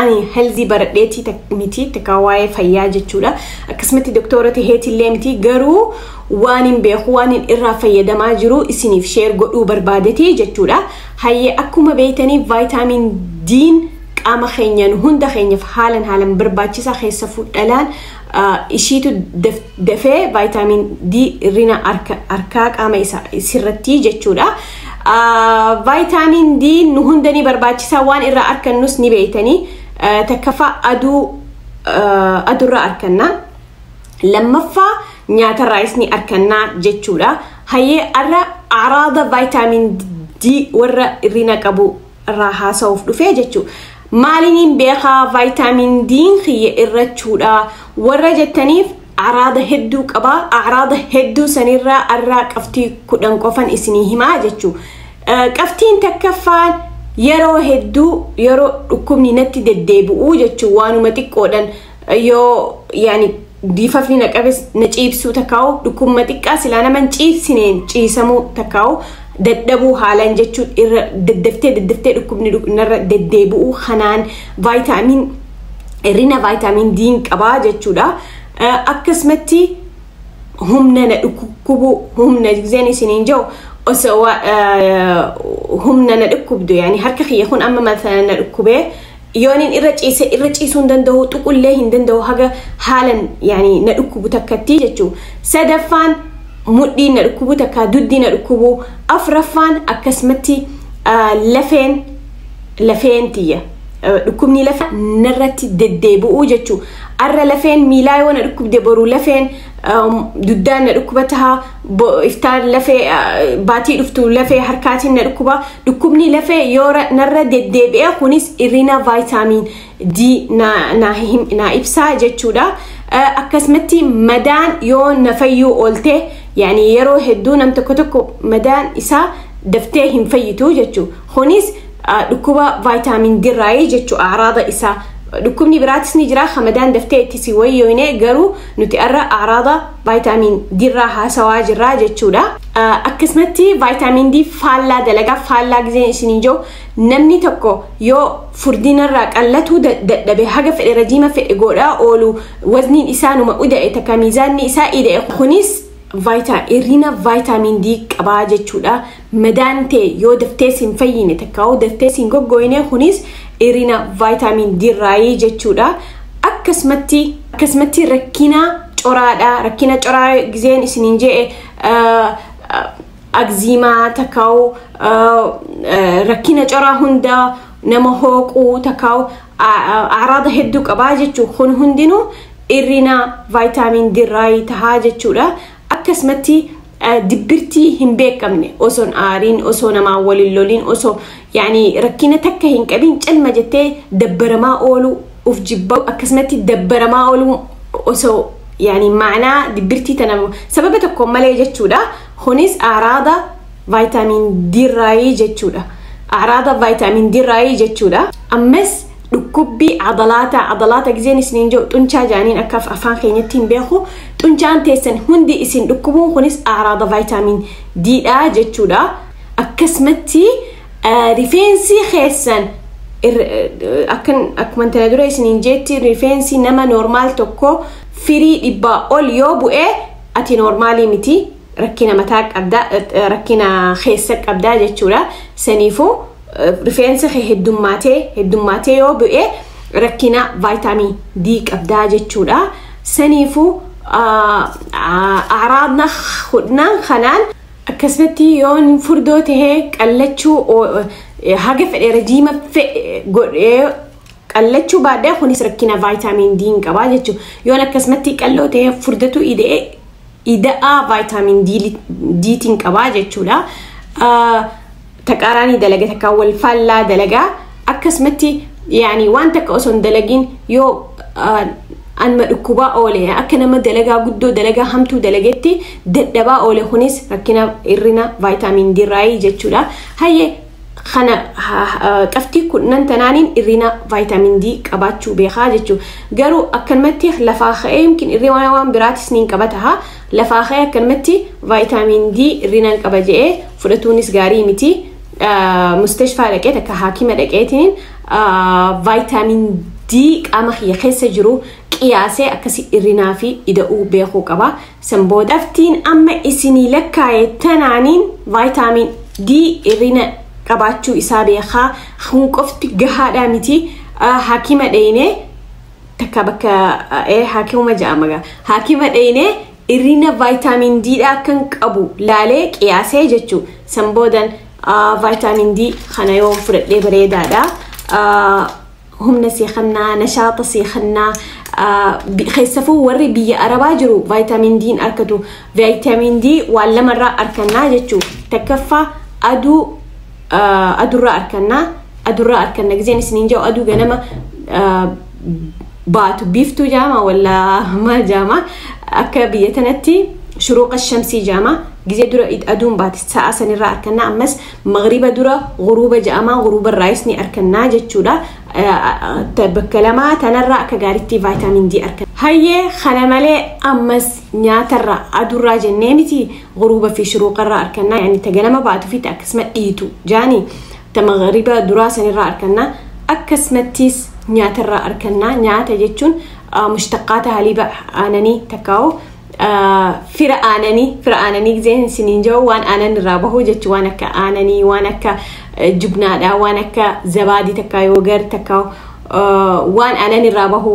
ani helzii baradheetii tak- miti takkaa waa'ee fayyaa jechuudha akkasumatti doktoora taheetillee miti garuu waan hin beeku waan hin irraa fayyadamaa jiru isiniif sheer godhuu barbaadeti jechuudha hayyee akkuma beeytanii vaayitaamiin diin qaama keenyaan hunda keenyaaf haalan haalan barbaachisaa keessa fudhalaan ishiitu dafee vaayitaamin D irrina harkaa qaama isaa sirratti jechuudha. Vaayitaamin D nu hunda ni barbaachisaa waan irraa arkannus ni beeytanii takkaffaa aduu adurraa arkannaa lammaffaa nyaatarraayis ni arkannaa jechuudha. Hayyee arra araada vaayitaamin D warra irrina qabu irraa haasa'uuf dhufee jechuudha. Maaliniin beekaa vaayitaamiin diin kiyya irrachuudha warra jettaniif araada hedduu qabaa araada hedduu sanirraa arraa qabxii kudhan qofan isinii himaa jechuudha. Qabxiin takkaffaan yeroo hedduu yeroo dhukkubni natti deddeebi'u jechuun waanuma xiqqoodhan yoo yaani biifafni na qabes na ciibsuu takkaa'u dhukkubma xiqqaa silaa nama hin ciibsineen ciisamuu takkaa'u dadhabuu haalaan jechuun irra daddaftee daddaftee dhukkubni dhuk- narra deddeebi'uu kanaan vaayitaamiin hirrina vaayitaamiin diin qabaa jechuudha. Eh, Akkasumatti humna na dhukkubuu humna gizeen isiniin jiru osoo wa- eh, humna na dhukkubdu yaani harka kiyya kun amma mata na dhukkubee Yoonin irra ciise irra ciisuu hin danda'u tuqullee hin danda'u haga haalan yaani na dhukkubu takkatti jechuu sadaffaan mudhiin na dhukkubu takka dugdi na dhukkubu afraffaan akkasumatti lafeen lafeen tiyya dhukkubni lafa narratti deddeebi'uu jechuu arra lafeen miilaa yoo na dhukkubde boru lafeen duddaan na dhukkuba taha iftaan lafee baatii dhuftu lafee harkaatiin na dhukkuba dhukkubni lafee yoo narra deddeebi'e kunis irrina vaayitaamiin D naa ibsaa jechuudha. Akkasumatti madaan yoo na fayyuu oolte yaani yeroo hedduu nam tokko tokko madaan isaa daftee hin fayyitu jechuudha. Kunis dhukkuba vaayitaamiin D irraa jechuudha araada isaa. Dhukkubni biraatis ni jira hamadaan daftee itti si wayyoine garuu Nuti arra aaraada vaayitaamiin D irraa haasawaa jirraa jechuudha. Akkasumatti vaayitaamiin D faallaa dalagaa faallaa gizeen isiniin jiru namni tokko yoo furdinarraa qallatuu dadhabe haga fedhe rajiima fedhe godhaa oolu wazniin isaa numa uda'e takka miizaanni isaa ida'e kunis irrina vaayitaamiin D qabaa jechuudha. Madaan tee yoo daftee sin fayyine takkaawuu daftee sin goggooyne kunis irina vaayitaamiin D irraayi jechuudha. Akkasumatti akkasumatti rakkina coraadha. Rakkina coraa gizeen isiniin je'e agziimaa takkaawuu rakkina coraa hunda nama hooquu takkaawuu araada hedduu qabaa jechuun kun hundinuu irrina vaayitaamiin D irraayi tahaa jechuudha. Akkasumatti dibbirtii hin beekamne osoo hin aariin osoo namaa waliin loliin osoo yaani rakkina takka hin qabiin calma jettee dabbaramaa ooluu uf jibbaa akkasumatti dabbaramaa ooluu osoo yaani maanaa dibbirtii tana sababa tokko malee jechuudha kunis aaraada vaayitaamiin D irraayii jechuudha aaraada vaayitaamiin D irraayii jechuudha ammas dhukkubbii abalaataa abalaata gizeen isiniin jiru xunchaa jaaniin akka afaan keenyatti hin beeku xunchaan teessan hundi isin dhukkubuun kunis aaraada vaayitaamiin diidha jechuudha akkasumatti rifeensi keessan akkan akkuma tana dura isiniin jeetti rifeensi nama noormaal tokko firii dhibbaa ol yoo bu'e ati noormaalii miti rakkina mataa qabda rakkina keessa qabda jechuudha saniifuu rifeensa kee heddummaatee heddummaatee yoo bu'e rakkina vaayitaamin D qabdaa jechuudha. Saniifuu araabna hudnaan kanaan akkasumatti yoo furdoo tahee qallachuu haga fedhe rajiima godhee qallachuu baadhee kunis rakkina vaayitaamin D hin qabaa jechuudha. Yoon akkasumatti qalloo tahee furdatu ida'ee ida'aa vaayitaamin D tiin qabaa jechuudha. taqaaraanii dalaga takka wal faallaa dalagaa akkasumatti yaani waan takka osoo hin dalagiin yoo anuma dhukkubaa oole akka nama dalagaa guddoo dalagaa hamtuu dalagetti dadhabaa oole kunis rakkina irrina vaayitaamiin diraayii jechuudha hayyee kana qabxii kudhan tanaaniin irrina vaayitaamiin D qabaachuu beekaa jechuudha garuu akkanumatti lafaa ka'ee yookiin irrina waan biraatis niin qabata Lafaa ka'ee akkanumatti vaayitaamiin D hir'inaan qaba je'ee fudhatuunis gaarii miti. Mustashfaa dhaqee takka haakima dhaqeetiin vaayitaamiin D qaama kiyya keessa jiru qiyaasee akkasi hir'inaa fi ida'uu beekuu qaba. San booda daftiin amma isinii lakkaa'e tanaaniin vaayitaamiin D hir'ina qabaachuu isaa beekaa kun qofti gahaadhaa miti haakima dheeynee takka bakka ee haakimuma ja'ama gaa haakima dheyne irrina vaayitaamin D dha akkan qabu laalee qiyaasee jechuu san boodan vaayitaamin D kana yoo fudhadhee bareedaadha humna sii kannaa nashaaxa sii kannaa keessafuu warri biyya arabaa jiru vaayitaamin D hin arkatu vaayitaamin D waan lamarraa arkannaa jechuu takkaffaa aduu ah, adurraa arkannaa adurraa arkanna gizeen isiniin ja'u aduu ganama ah, baatu biiftuu jaama wallaa maal jaama akka biyya tanatti shuruuqa shamsii jaama gizee dura it- aduun baate sa'a sanirraa arkannaa ammas magriba dura guruuba ja'amaa guruuba irraayis ni arkannaa jechuudha Ah, ah, ta- bakka lamaa tanarraa akka gaaritti vaayitaamin D arkanna hayyee kana malee ammas nyaatarraa adurraa jennee miti guruuba fi shuruuqarraa arkannaa yaani ta ganama baatu fi ta akkasuma dhiitu jaani ta magariba duraa sanirraa arkannaa akkasumattis nyaatarraa arkannaa nyaata jechuun mushtaqaata haliiba aananii takkaa'u fira aananii fira aananii giseen siniin jiru waan aanan irraa bahu jechu waan akka aananii waan akka jubnaadhaa waan akka zabaadii takkaa yoogar takkaa waan aanan irraa bahu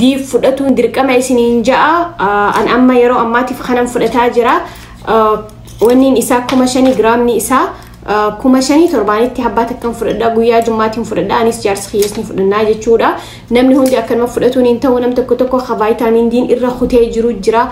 diif fudhatuun dirqama isiniin ja'a an amma yeroo ammaatiif kanan fudhataa jira wanniin isaa kuma shanii giraamni isaa kuma shanii torbaanitti habbaa takkan fudhadha guyyaa jummaatiin fudhadha anis jaarsi kiyyees ni fudhannaa jechuudha namni hundi akkanuma fudhatuun hin ta'u nam tokko tokko ka vaayitaamiin diin irra kutee jiru jira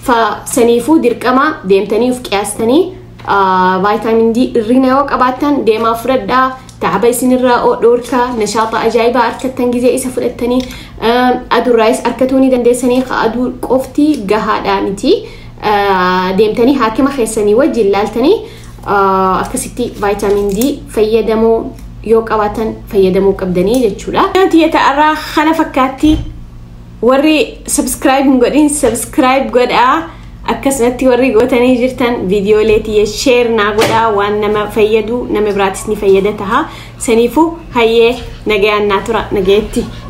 fa saniifuu dirqama deemtanii of qiyaastanii Vaayitaamin D irrina yoo qabaattan deemaa fudhadhaa. Taaba isinirraa dhoorkaa nashaaxa ajaa'ibaa harkattan gizee isa fudhattanii adurraayis harkatuu ni dandeessanii ka aduu qofti gahaadhaa miti. Deemtanii haakima keessanii wajjin laaltanii akkasitti vaayitaamin D fayyadamoo yoo qabaatan fayyadamuu qabdanii jechuudha. Namti ta'arraa kana fakkaatti warri subscribe hin godhin subscribe godhaa. Akkasumatti warri gootanii jirtan viidiyoolee tiyya sheer naa godhaa waan nama fayyadu nama biraatis ni fayyada taha. Saniifuu hayyee nagayaan naa tura nagayetti.